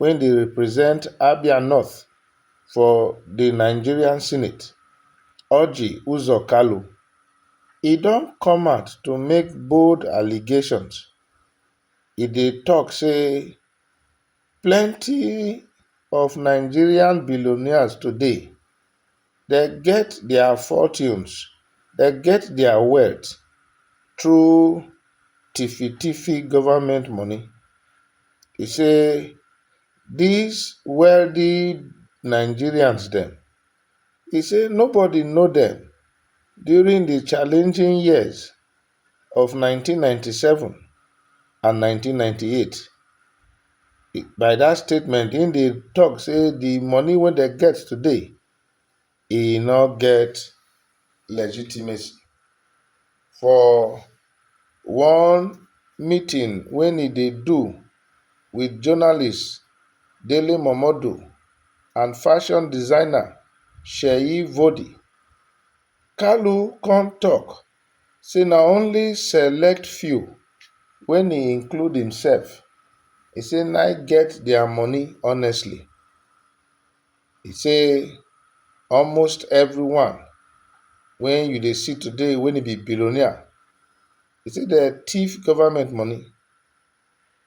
wey dey represent Abia North for di Nigerian Senate, Orji Uzor Kalu, e don come out to make bold allegations, e dey tok say plenty of Nigerian billionaires today, dem get their fortunes dem get their wealth through tiffi-tiffi government money e say this wealthy nigerians dem e say nobody know dem during di challenging years of 1997 and 1998. By dat statement, im dey tok say di money wey dem get today, e no get legitimacy. For one meeting wey e dey do wit journalist Dele Momodu and fashion designer Seyi Vodi, Kalu come tok say na only select few wen e include himself e say na im get their money honestly e say almost everyone wen you dey see today wen e be billionaire e say dem thief government money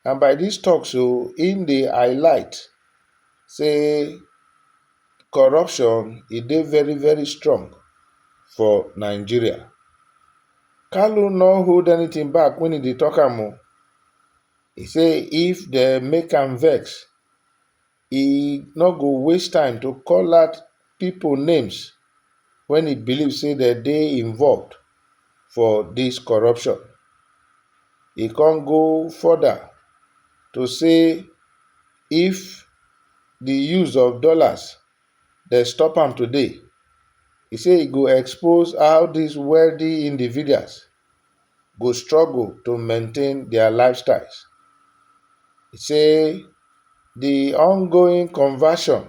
And by dis tok so im dey highlight say corruption e dey very very strong for Nigeria. Kalu no hold anytin back wen e dey tok am o, e say if dem make am vex e no go waste time to call out pipo names wen e believe say dem dey involved for dis corruption. E come go further to say if di use of dollars dem stop am today, e say e go expose how dis wealthy individuals go struggle to maintain dia lifestyles. E say di ongoing conversion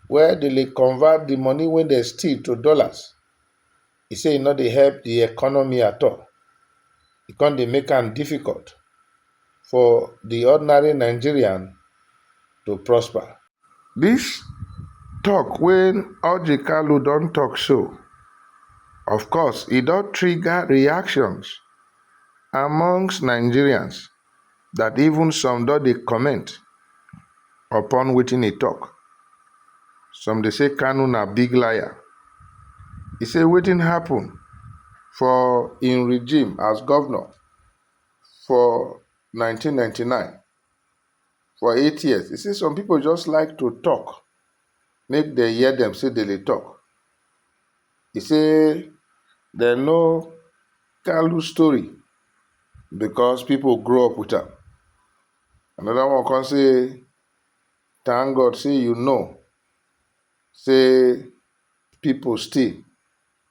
wia dem dey convert di money wey dem steal to dollars, e say e no dey help di economy at all, e come dey make am difficult. for di ordinary Nigerian to prosper. Dis tok wey Orji Kalu don tok so, of course e don trigger reactions amongst Nigerians dat even some don dey comment upon wetin e tok. Some dey say Kanu na big liar, e say wetin happun for im regime as govnor for nineteen ninety nine for eight years e say some pipo just like to tok make dem hear dem say dem dey tok e say dem know kalu story becos pipo grow up wit am anoda one come say tank God say you know say pipo still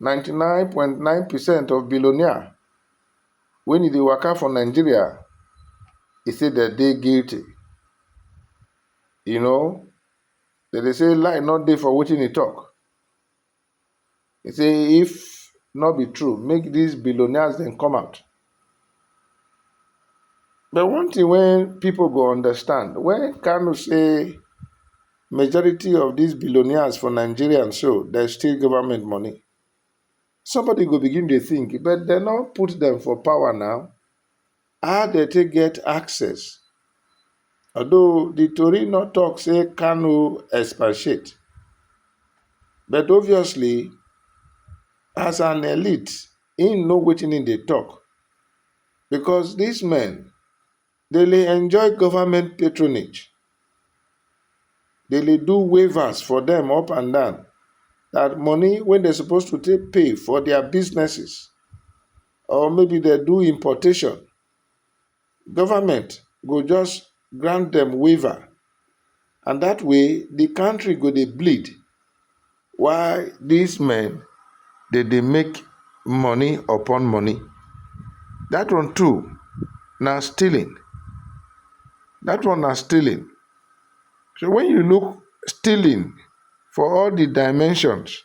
Ninety nine point nine percent of billionaire when e dey waka for Nigeria, e say dem dey guilty. You know, dem dey say lie no dey for wetin e talk. E say if no be true, make dis billionaires dem come out. But one thing wey people go understand, when Kanu say majority of these billionaires for Nigeria so, dem steal government money, somebody go begin dey think, but dem no put dem for power now, how dem take get access? Although the tori no talk say Kanu expatiate, but obviously as an elite, him know wetin him dey talk because this men dey le enjoy government patronage dey le do wavers for them up and down that money wey they suppose to take pay for their businesses or maybe they do importation government go just grant dem waiver and dat way di kontri go dey bleed while dis men dem dey make money upon money. Dat one too na stealing, dat one na stealing. So wen you look stealing for all di dimensions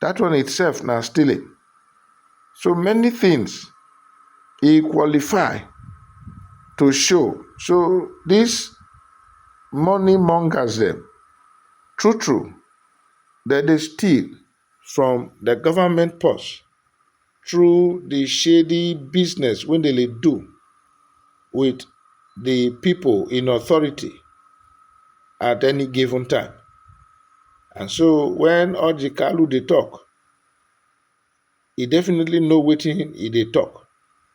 that one itself na stealing so many things e qualify to show so this money mongers dem true true dem dey steal from the government purse. through the shady business wey dem dey do with the people in authority at any given time. And so when Orji Kalu dey talk, he definitely know wetin he dey talk.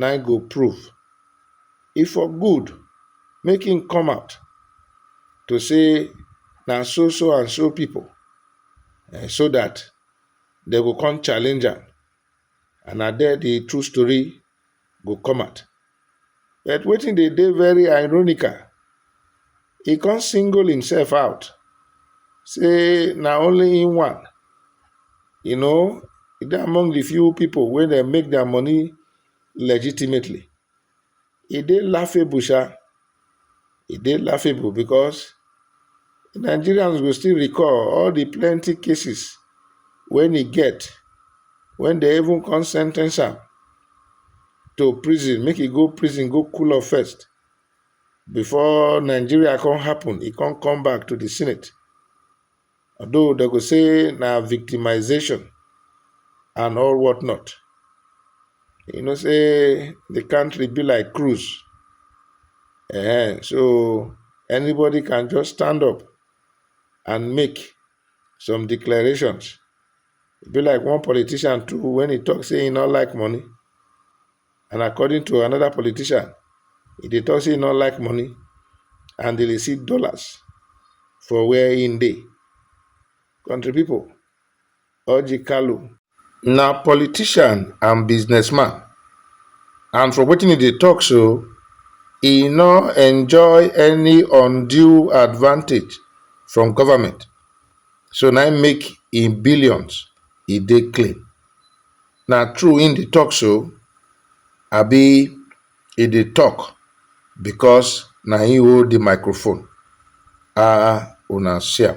na im go prove e for good make him come out to say na so so and so people um so that dem go come challenge am and na there the true story go come out but wetin dey dey very ironical he come single himself out say na only him one you know he dey among the few people wey dey make their money legitimately e dey laughable sha e dey laughable because nigerians go still recall all the plenty cases when he get when they even come sentence am to prison make he go prison go cool off first before Nigeria come happen, e come come back to the Senate. Although they go say na victimization and all what not. You know, say the country be like cruise. Eh, so anybody can just stand up and make some declarations. It be like one politician too when he talks saying he not like money. And according to another politician, he dey talk say he no like money and dey dey see dollars for where he dey. Country people, Orji Kalu na politician and businessman and from wetin he dey talk so, he no enjoy any undue advantage from government so na im make im billions e dey clean. Na true im dey talk so abi e dey talk because na im hold the microphone? Ahh una see am.